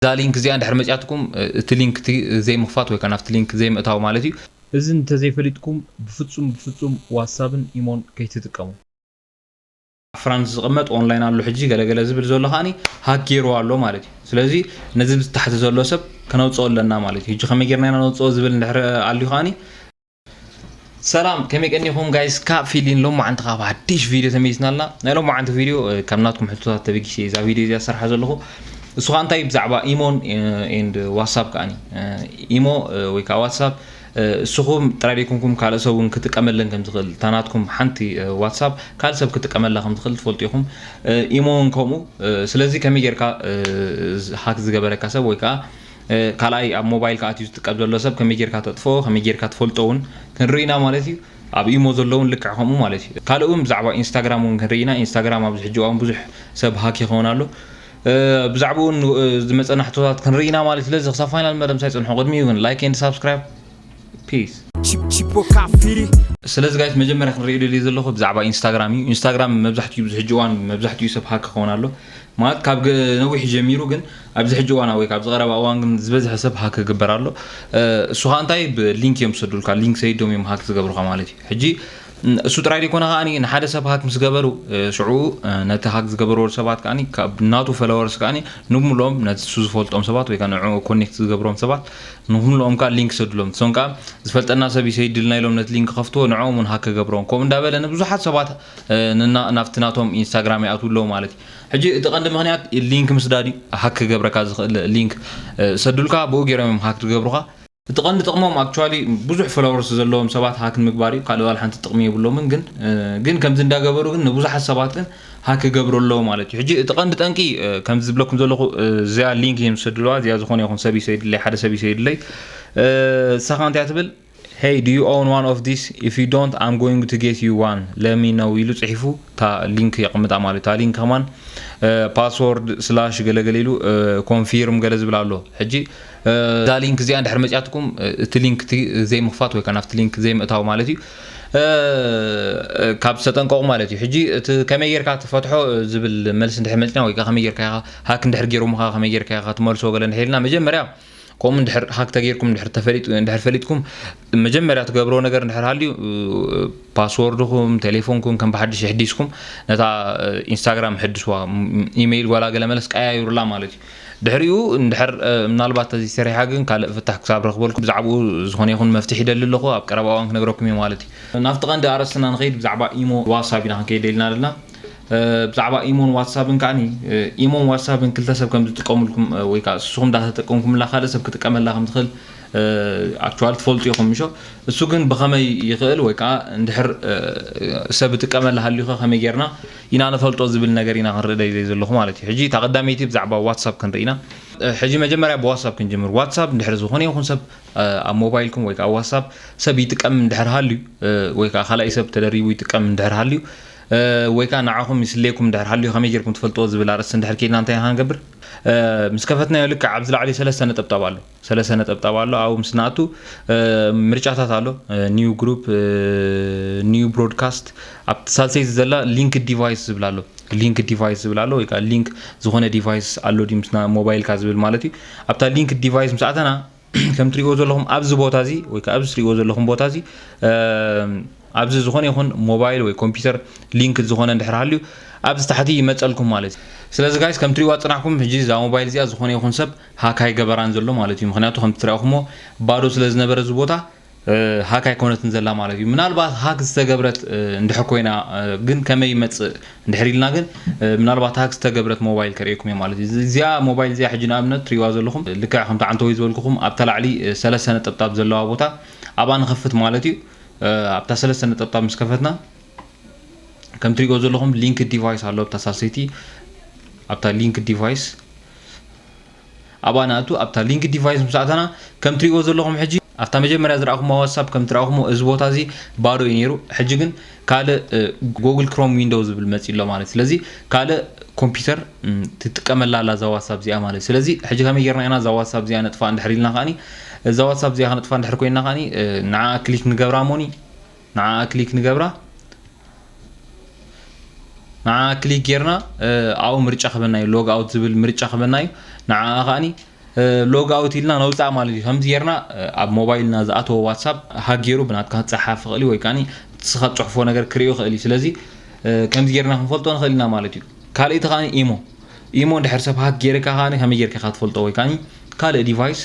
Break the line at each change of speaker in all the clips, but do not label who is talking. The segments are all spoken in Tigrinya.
እዛ ሊንክ እዚኣ እንድሕር መጺኣትኩም እቲ ሊንክ እቲ ዘይምኽፋት ወይ ከኣ ናብቲ ሊንክ ዘይምእታው ማለት እዩ። እዚ እንተዘይፈሊጥኩም ብፍጹም ብፍጹም ዋትሳብን ኢሞን ከይትጥቀሙ። ኣብ ፍራንስ ዝቅመጥ ኦንላይን ኣሎ ሕጂ ገለ ገለ ዝብል ዘሎ ከኣኒ ሃክ ጌርዎ ኣሎ ማለት እዩ ስለዚ ነዚ ብታሕቲ ዘሎ ሰብ ከነውጽኦ ኣለና ማለት እዩ ሕጂ ከመይ ጌርና ኢና ነውጽኦ ዝብል እንድሕር ኣልዩ ከኣኒ ሰላም ከመይ ቀኒኹም ጋይስ ካብ ፊሊን ሎም መዓንቲ ካብ ሓድሽ ቪድዮ ተመይስና ኣላ ናይ ሎም መዓንቲ ቪድዮ ካብ ናትኩም ሕቶታት ተበጊሰ እዛ ቪድዮ እዚኣ ዝሰርሓ ዘለኹ እሱ ከዓ እንታይ ብዛዕባ ኢሞን ኤንድ ዋትሳፕ ከዓኒ ኢሞ ወይ ከዓ ዋትሳፕ እሱኹም ጥራይ ደይኮንኩም ካልእ ሰብ እውን ክጥቀመለን ከም ዝኽእል እታ ናትኩም ሓንቲ ዋትሳፕ ካልእ ሰብ ክጥቀመላ ከም ዝኽእል ትፈልጡ ኢኹም ኢሞ እውን ከምኡ ስለዚ ከመይ ጌርካ ሃክ ዝገበረካ ሰብ ወይ ከዓ ካልኣይ ኣብ ሞባይልካ ኣትዩ ዝጥቀም ዘሎ ሰብ ከመይ ጌርካ ተጥፍኦ ከመይ ጌርካ ትፈልጦ እውን ክንርኢ ኢና ማለት እዩ ኣብ ኢሞ ዘሎ እውን ልክዕ ከምኡ ማለት እዩ ካልእ እውን ብዛዕባ ኢንስታግራም እውን ክንርኢ ኢና ኢንስታግራም ኣብዚ ሕጂ እዋን ብዙሕ ሰብ ሃክ ይኸውን ኣሎ ብዛዕባኡ ዝመፀና ሕቶታት ክንርኢ ኢና ማለት ስለዚ ክሳብ ፋይናል መደምሳይ ፅንሑ ቅድሚኡ ግን ላይክ ኤንድ ሳብስክራይብ ፒስ ስለዚ ጋይስ መጀመርያ ክንሪኦ ደልየ ዘለኹ ብዛዕባ ኢንስታግራም እዩ ኢንስታግራም መብዛሕትኡ ብዚ ሕጂ እዋን መብዛሕትኡ ሰብ ሃክ ክኸውን ኣሎ ማለት ካብ ነዊሕ ጀሚሩ ግን ኣብዚ ሕጂ እዋን ወይ ካብዚ ቀረባ እዋን ግን ዝበዝሐ ሰብ ሃክ ክግበር ኣሎ እሱ ከዓ እንታይ ብሊንክ እዮም ዝሰዱልካ ሊንክ ሰይዶም እዮም ሃክ ዝገብሩካ ማለት እዩ ሕጂ እሱ ጥራይ ዘይኮነ ከኣ ንሓደ ሰብ ሃክ ምስ ገበሩ ሽዑ ነቲ ሃክ ዝገበርዎ ሰባት ከኣ ካብ ናቱ ፈለወርስ ከኣ ንብምልኦም ነቲ እሱ ዝፈልጦም ሰባት ወይ ከኣ ንዕኡ ኮኔክት ዝገብሮም ሰባት ንክምልኦም ከኣ ሊንክ ይሰድሎም ንሶም ከኣ ዝፈልጠና ሰብ እዩ ሰይድልና ኢሎም ነቲ ሊንክ ይኸፍትዎ ንዕኦም ውን ሃክ ክገብሮም ከምኡ እንዳበለ ንብዙሓት ሰባት ንና ናብቲ ናቶም ኢንስታግራም ይኣትው ኣለዉ ማለት እዩ ሕጂ እቲ ቀንዲ ምክንያት ሊንክ ምስዳድ እዩ ሃክ ክገብረካ ዝኽእል ሊንክ ሰዱልካ ብኡ ጌሮም እዮም ሃክ ዝገብሩኻ እቲ ቀንዲ ጥቅሞም actually ብዙሕ ፎሎወርስ ዘለዎም ሰባት ሃክ ንምግባር እዩ ካልእ ዋላ ሓንቲ ጥቅሚ የብሎምን ግን ግን ከምዚ እንዳ ገበሩ ግን ንብዙሓት ሰባት ግን ሃክ ክገብሩ ኣለዉ ማለት እዩ ሕጂ እቲ ቀንዲ ጠንቂ ከምዚ ዝብለኩም ዘለኹ እዚኣ ሊንክ እዮም ዝሰድልዋ እዚኣ ዝኾነ ይኹን ሰብ እዩ ሰይድለይ ሓደ ሰብ እዩ ሰይድለይ ንሳኻ እንታይ ትብል ሄይ ዱ ዩ ኦውን ዋን ኦፍ ዲስ ኢፍ ዩ ዶንት ኣም ጎይንግ ቱ ጌት ዩ ዋን ለሚ ነው ኢሉ ጽሒፉ እታ ሊንክ የቕምጣ ማለት እታ ሊንክ ከማን ፓስወርድ ስላሽ ገለገለ ኢሉ ኮንፊርም ገለ ዝብል ኣሎ ሕጂ እዛ ሊንክ እዚኣ ድሕሪ መጽያትኩም እቲ ሊንክ እቲ ዘይምኽፋት ወይ ከዓ ናብቲ ሊንክ ዘይምእታው ማለት እዩ ካብ ዝተጠንቀቑ ማለት እዩ ሕጂ እቲ ከመይ ጌርካ ትፈትሖ ዝብል መልሲ እንድሕር መጽና ወይ ከዓ ከመይ ጌርካ ኢኻ ሃክ እንድሕር ጌሮምኻ ከመይ ጌርካ ኢኻ ትመልሶ ገለ እንድሕር ኢልና መጀመርያ ከምኡ እንድሕር ሃክ ተጌርኩም እንድሕር ተፈሊጡ እንድሕር ፈሊጥኩም መጀመርያ ትገብርዎ ነገር እንድሕር ሃልዩ ፓስዎርድኹም ቴሌፎንኩም ከም ብሓድሽ የሕዲስኩም ነታ ኢንስታግራም ሕድስዋ ኢመይል ጓላ ገለ መለስ ቀያይሩላ ማለት እዩ ድሕሪኡ እንድሕር ምናልባት ተዚ ሰሪሓ ግን ካልእ ፍታሕ ክሳብ ረኽበልኩ ብዛዕባኡ ዝኾነ ይኹን መፍትሒ ይደሊ ኣለኹ ኣብ ቀረባ እዋን ክነግረኩም እዩ ማለት እዩ ናብቲ ቀንዲ ኣርእስትና ንኸይድ ብዛዕባ ኢሞ ዋትሳፕ ኢና ክንከይድ ደሊና ኣለና ብዛዕባ ኢሞን ዋትሳፕን ከዓኒ ኢሞን ዋትሳፕን ክልተ ሰብ ከም ዝጥቀምልኩም ወይ ከዓ ንስኹም እንዳተጠቀምኩምላ ካልእ ሰብ ክጥቀመላ ከም ዝኽእል ኣክቹዋሊ ትፈልጡ ኢኹም ምሾ እሱ ግን ብኸመይ ይኽእል ወይ ከዓ እንድሕር ሰብ ጥቀመላ ሃልዩኸ ከመይ ጌርና ኢና ንፈልጦ ዝብል ነገር ኢና ክንርኢ ደይ ዘለኹ ማለት እዩ ሕጂ እታ ቀዳመይቲ ብዛዕባ ዋትሳፕ ክንርኢ ኢና ሕጂ መጀመርያ ብዋትሳፕ ክንጅምር ዋትሳፕ እንድሕር ዝኾነ ይኹን ሰብ ኣብ ሞባይልኩም ወይ ከዓ ዋትሳፕ ሰብ ይጥቀም እንድሕር ሃልዩ ወይ ከዓ ካልኣይ ሰብ ተደሪቡ ይጥቀም እንድሕር ሃልዩ ወይ ከዓ ንዓኹም ይስሌኩም እንድሕር ሃልዩ ከመይ ጌርኩም ትፈልጥዎ ዝብል ኣርእስቲ እንድሕር ኬድና እንታይ ኢና ክንገብር ምስ ከፈትናዮ ልክዕ ኣብዚ ላዕሊ ሰለስተ ነጠብጣብ ኣሎ ሰለሰ ነጠብጣብ ኣሎ ኣብኡ ምስ ንኣቱ ምርጫታት ኣሎ ኒው ግሩፕ ኒው ብሮድካስት ኣብቲ ሳልሰይቲ ዘላ ሊንክ ዲቫይስ ዝብል ኣሎ ሊንክ ዲቫይስ ዝብል ኣሎ ወይ ከዓ ሊንክ ዝኾነ ዲቫይስ ኣሎ ድዩ ምስና ሞባይልካ ዝብል ማለት እዩ ኣብታ ሊንክ ዲቫይስ ምስ ኣተና ከም ትሪእዎ ዘለኹም ኣብዚ ቦታ እዚ ወይ ከዓ ኣብዚ ትሪእዎ ዘለኹም ቦታ እዚ ኣብዚ ዝኾነ ይኹን ሞባይል ወይ ኮምፒውተር ሊንክ ዝኾነ እንድሕር ሃልዩ ኣብዚ ታሕቲ ይመፀልኩም ማለት እዩ ስለዚ ጋይስ ከም ትሪእዋ ፅናሕኩም ሕጂ እዛ ሞባይል እዚኣ ዝኾነ ይኹን ሰብ ሃክ ኣይገበራን ዘሎ ማለት እዩ ምክንያቱ ከምቲ ትርኣኹሞ ባዶ ስለ ዝነበረ እዚ ቦታ ሃክ ኣይኮነትን ዘላ ማለት እዩ ምናልባት ሃክ ዝተገብረት እንድሕር ኮይና ግን ከመይ ይመጽእ እንድሕር ኢልና ግን ምናልባት ሃክ ዝተገብረት ሞባይል ከርእየኩም እየ ማለት እዩ እዚኣ ሞባይል እዚኣ ሕጂ ንኣብነት ትሪዋ ዘለኹም ልክዕ ከምቲ ዓንተወይ ዝበልኩኹም ኣብታ ላዕሊ ሰለስተ ነጠብጣብ ዘለዋ ቦታ ኣብኣ ንኸፍት ማለት እዩ ኣብታ ሰለስተ ነጠብጣብ ምስ ከፈትና ከም ትሪእዎ ዘለኹም ሊንክ ዲቫይስ ኣሎ ኣብታ ሳልሰይቲ ኣብታ ሊንክ ዲቫይስ ኣብኣ ንኣቱ ኣብታ ሊንክ ዲቫይስ ምስ ኣተና ከም ትሪእዎ ዘለኹም ሕጂ ኣብታ መጀመርያ ዝረኣኹማ ዋትሳፕ ከም ትረኣኹሞ እዚ ቦታ እዚ ባዶ እዩ ነይሩ ሕጂ ግን ካልእ ጎግል ክሮም ዊንዶው ዝብል መጺ ኣሎ ማለት ስለዚ ካልእ ኮምፒውተር ትጥቀመላ ኣላ እዛ ዋትሳፕ እዚኣ ማለት ስለዚ ሕጂ ከመይ ጌርና ኢና እዛ ዋትሳፕ እዚኣ ነጥፋ እንድሕር ኢልና ከዓኒ እዛ ዋትሳፕ እዚኣ ከነጥፋ እንድሕር ኮይና ከዓኒ ንዓ ክሊክ ንገብራ ሞኒ ንዓኣ ክሊክ ንገብራ ንዓኣ ክሊክ ጌርና ኣብኡ ምርጫ ክበና እዩ ሎግ ኣውት ዝብል ምርጫ ክበና እዩ ንዓኣ ከዓኒ ሎግ ኣውት ኢልና ነውፃእ ማለት እዩ ከምዚ ጌርና ኣብ ሞባይልና ዝኣተወ ዋትሳፕ ሃጊሩ ብናትካ ክፀሓፍ ይኽእል እዩ ወይ ከዓኒ ንስኻ ትፅሕፎ ነገር ክርእዮ ይኽእል እዩ ስለዚ ከምዚ ጌርና ክንፈልጦ ንኽእል ኢና ማለት እዩ ካልእ እቲ ከዓኒ ኢሞ ኢሞ እንድሕር ሰብ ሃክ ጌርካ ከዓኒ ከመይ ጌርካ ኢኻ ትፈልጦ ወይ ከዓኒ ካልእ ዲቫይስ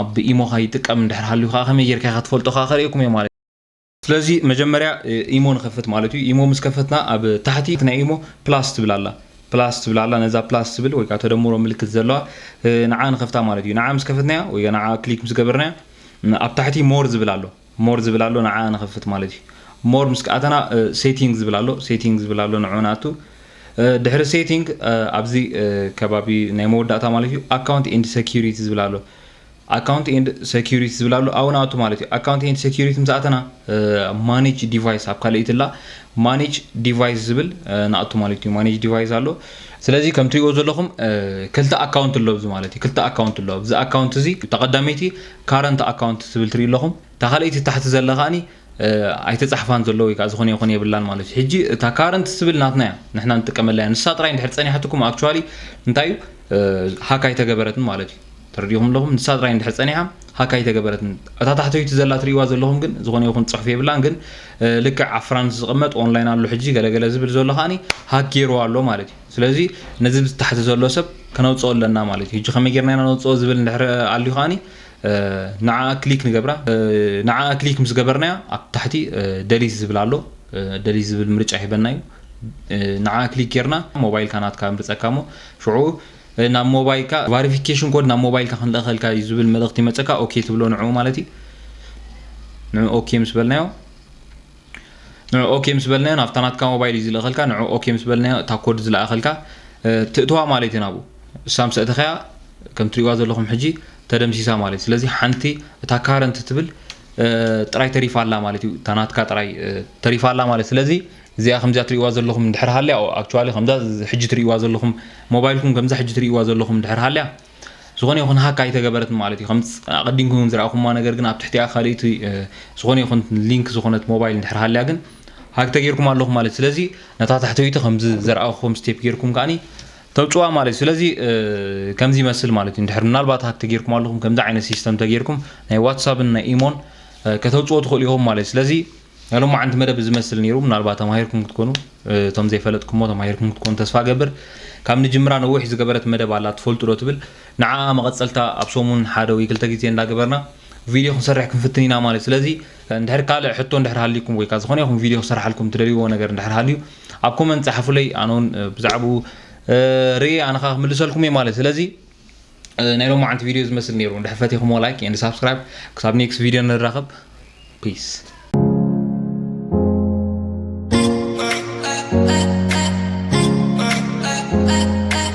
ኣብ ኢሞኻ ይጥቀም እንድሕር ሃልዩ ከዓ ከመይ ጌርካ ኢኻ ትፈልጦ ከዓ ከርእየኩም እየ ማለት እዩ ስለዚ መጀመርያ ኢሞ ንኸፍት ማለት እዩ ኢሞ ምስ ከፈትና ኣብ ታሕቲ ናይ ኢሞ ፕላስ ትብል ኣላ ፕላስ ትብል ኣላ ነዛ ፕላስ ትብል ወይ ከዓ ተደምሮ ምልክት ዘለዋ ንዓ ንኸፍታ ማለት እዩ ንዓ ምስ ከፈትናያ ወይ ንዓ ክሊክ ምስ ገበርናያ ኣብ ታሕቲ ሞር ዝብል ኣሎ ሞር ዝብል ኣሎ ንዓ ንኸፍት ማለት እዩ ሞር ምስ ከኣተና ሴቲንግ ዝብል ኣሎ ሴቲንግ ዝብል ኣሎ ንዑ ንኣቱ ድሕሪ ሴቲንግ ኣብዚ ከባቢ ናይ መወዳእታ ማለት እዩ ኣካውንት ኤንድ ሴኪሪቲ ዝብል ኣሎ ኣካውንት ኤንድ ሰኪሪቲ ዝብል ኣሎ ኣብኡ ንኣቱ ማለት እዩ ኣካውንት ኤንድ ሰኪሪቲ ምስ ኣተና ማኔጅ ዲቫይስ ኣብ ካልእቲ ላ ማኔጅ ዲቫይስ ዝብል ንኣቱ ማለት እዩ ማኔጅ ዲቫይስ ኣሎ ስለዚ ከም ትሪእዎ ዘለኹም ክልተ ኣካውንት ኣሎ ኣብዚ ማለት እዩ ክልተ ኣካውንት ኣሎ ኣብዚ ኣካውንት እዚ ተቐዳመይቲ ካረንት ኣካውንት ትብል ትሪኢ ኣለኹም እታ ካልእቲ ታሕቲ ዘለ ከዓኒ ኣይተጻሕፋን ዘሎ ወይ ከዓ ዝኾነ ይኹን የብላን ማለት እዩ ሕጂ እታ ካረንት ትብል ናትና እያ ንሕና ንጥቀመላ እያ ንሳ ጥራይ እንድሕር ጸኒሓትኩም ኣክቹዋሊ እንታይ እዩ ሃካ ኣይተገበረትን ማለት እዩ ተረዲእኹም ኣለኹም ንሳ ጥራይ እንድሕር ጸኒሓ ሃክ ኣይተገበረትን እታ ታሕተይቲ ዘላ ትርእይዋ ዘለኹም ግን ዝኾነ ይኹን ጽሑፍ የብላን ግን ልክዕ ኣብ ፍራንስ ዝቕመጥ ኦንላይን ኣሎ ሕጂ ገለገለ ዝብል ዘሎ ከዓኒ ሃክ ገይርዋ ኣሎ ማለት እዩ ስለዚ ነዚ ብታሕቲ ዘሎ ሰብ ከነውጽኦ ኣለና ማለት እዩ ሕጂ ከመይ ጌርና ኢና ነውጽኦ ዝብል እንድሕር ኣልዩ ከዓኒ ንዓ ክሊክ ንገብራ ንዓ ክሊክ ምስ ገበርናያ ኣብ ታሕቲ ደሊት ዝብል ኣሎ ደሊት ዝብል ምርጫ ሂበና እዩ ንዓ ክሊክ ጌርና ሞባይልካ ናትካ ምርጸካ እሞ ሽዑ ናብ ሞባይልካ ቫሪፊኬሽን ኮድ ናብ ሞባይልካ ክንልእኸልካ እዩ ዝብል መልእኽቲ ይመፀካ ኦኬ ትብሎ ንዕኡ ማለት እዩ ንዑ ኦኬ ምስ በልናዮ ንዑ ኦኬ ምስ በልናዮ ናብታ ናትካ ሞባይል እዩ ዝልእኸልካ ንዑ ኦኬ ምስ በልናዮ እታ ኮድ ዝለኣኸልካ ትእትዋ ማለት እዩ ናብኡ እሳ ምስ ኣእተኸያ ከም ትሪእዋ ዘለኹም ሕጂ ተደምሲሳ ማለት እዩ ስለዚ ሓንቲ እታ ካረንት ትብል ጥራይ ተሪፋ ኣላ ማለት እዩ እታ ናትካ ጥራይ ተሪፋ ኣላ ማለት ስለዚ እዚኣ ከምዚኣ ትርእይዋ ዘለኹም እንድሕር ሃልያ ኦ ኣክቹዋሊ ከምዛ ሕጂ ትርእይዋ ዘለኹም ሞባይልኩም ከምዛ ሕጂ ትርእይዋ ዘለኹም እንድሕር ሃልያ ዝኾነ ይኹን ሃክ ኣይተገበረትን ማለት እዩ ከም ኣቐዲምኩም ዝረኣኹማ ነገር ግን ኣብ ትሕቲኣ ካልእቲ ዝኾነ ይኹን ሊንክ ዝኾነት ሞባይል እንድሕር ሃልያ ግን ሃክ ተጌርኩም ኣለኹም ማለት ስለዚ ነታ ታሕተይቲ ከምዚ ዘረኣኹም ስቴፕ ጌርኩም ከዓኒ ተውጭዋ ማለት እዩ ስለዚ ከምዚ ይመስል ማለት እዩ እንድሕር ምናልባት ሃክ ተጌርኩም ኣለኹም ከምዚ ዓይነት ሲስተም ተጌርኩም ናይ ዋትሳፕን ናይ ኢሞን ከተውጭዎ ትኽእሉ ኢኹም ማለት እዩ ስለዚ ናይ ሎማዓንቲ መደብ እዚ መስል ነይሩ ምናልባት ተማሂርኩም ክትኮኑ እቶም ዘይፈለጥኩሞ ተማሂርኩም ክትኮኑ ተስፋ ገብር ካብ ንጅምራ ነዊሕ ዝገበረት መደብ ኣላ ትፈልጡ ዶ ትብል ንዓኣ መቐጸልታ ኣብ ሰሙን ሓደ ወይ ክልተ ግዜ እንዳገበርና ቪድዮ ክንሰርሕ ክንፍትን ኢና ማለት ስለዚ እንድሕር ካልእ ሕቶ እንድሕር ሃልዩኩም ወይ ከዓ ዝኾነ ይኹን ቪድዮ ክሰርሓልኩም ትደልይዎ ነገር እንድሕር ሃልዩ ኣብ ኮመንት ጸሓፉለይ ኣነ እውን ብዛዕብኡ ርእየ ኣነ ከዓ ክምልሰልኩም እየ ማለት ስለዚ ናይ ሎማዓንቲ ቪድዮ ዝመስል ነይሩ እንድሕር ፈቲኹሞ ላይክ ኤንድ ሳብስክራይብ ክሳብ ኔክስት ቪድዮ ንራኸብ ፒስ